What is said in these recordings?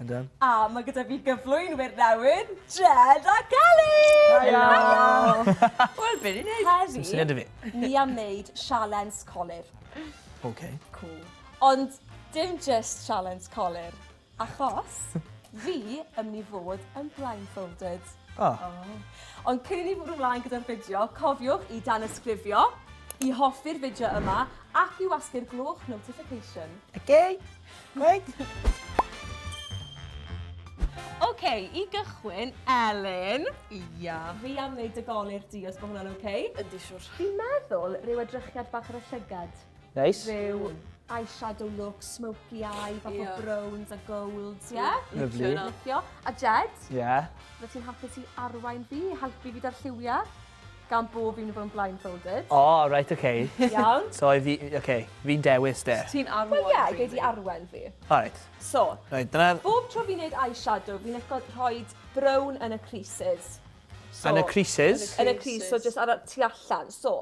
Ydw. A mae gyda fi gyflwynwyr newydd, Jed ac Ali! Helo! Wel, be ni'n neud? Heddi... Sdim syniad 'da fi. ...ni am neud sialens colur. Ok. Cŵl. Ond dim jyst sialens colur, achos fi yn myn' i fod yn blindfolded. O! O! Ond cyn i ni fwrw mlaen gyda'r fideo, cofiwch i danysgrifio, i hoffi'r fideo yma, ac i wasgu'r gloch notification. Ok! Gwaith! OK, i gychwyn, Elin. Ia. Fi am wneud dy golir di, os bod hwnna'n OK? Yndi, siwr. Fi'n meddwl rhyw edrychiad bach ar y llygad. Neis. Rhyw eyeshadow look, smoky eye, bach yeah. o browns a golds, ie? Yeah? Lyfli. Licio. A Jed? Ie. Yeah. Fy ti'n hapus i arwain fi, helpu fi da'r lliwiau? gan bob un o fo yn blindfolded. O, reit, oce. Iawn. So, i fi, oce, fi'n dewis de. Ti'n arwen fi. Wel, ie, gei di arwen fi. O, reit. So, Reit, dyna... bob tro fi'n neud eyeshadow, fi'n lico rhoi brown yn y creases. So, Yn y creases? Yn y crease, so jyst ar y tu allan. So,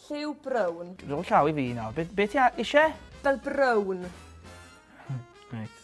lliw brown. Rhoi llaw i fi nawr. Be, be ti a- isie? Fel brown. Reit.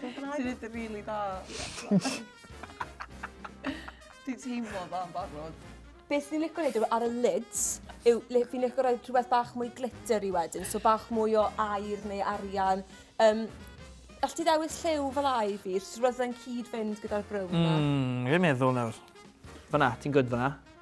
Ti'n gwbod be? Ti neud yn rili da. Dwi'n teimlo dda yn barod. Beth fi'n licio neud yw ar y lids, yw le fi'n licio rhoi rhywbeth bach mwy glitter i wedyn, so bach mwy o air neu arian. Um, All ti ddewis lliw fel ai fi, rhywbeth yn cyd-fynd gyda'r brown yma? Mm, fi'n meddwl nawr. Fyna, ti'n gwyd fyna.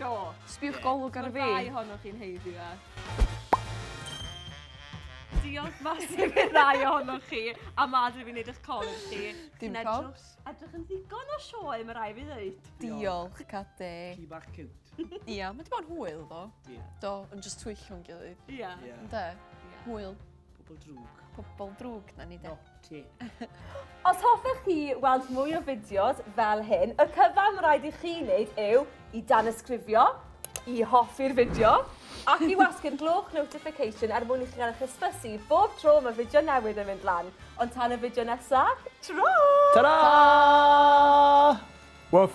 Do. Sbiwch golwg ar y fi. Mae'r ddau ohonoch chi'n heiddi fe. Diolch masif i'r ddau ohonoch chi a madr fi'n neud eich colur chi. Dim probs. Edrych yn ddigon o sioe, mae rai fi ddeud. Diolch, Cade. Ci bach cute. Ia, mae di bod yn hwyl, do. Do, yn just twyllio'n gilydd. Ia. Ynde? Hwyl. Pobl drwg. Pobl drwg, na ni de. No, ti. Os hoffech chi weld mwy o fideos fel hyn, y cyfan mae rhaid i chi wneud yw i dan ysgrifio, i hoffi'r fideo, ac i wasgu'r gloch notification er mwyn i chi gael eich hysbysu bob tro mae fideo newydd yn mynd lan. Ond tan y fideo nesaf, tro! Ta-ra! Woof!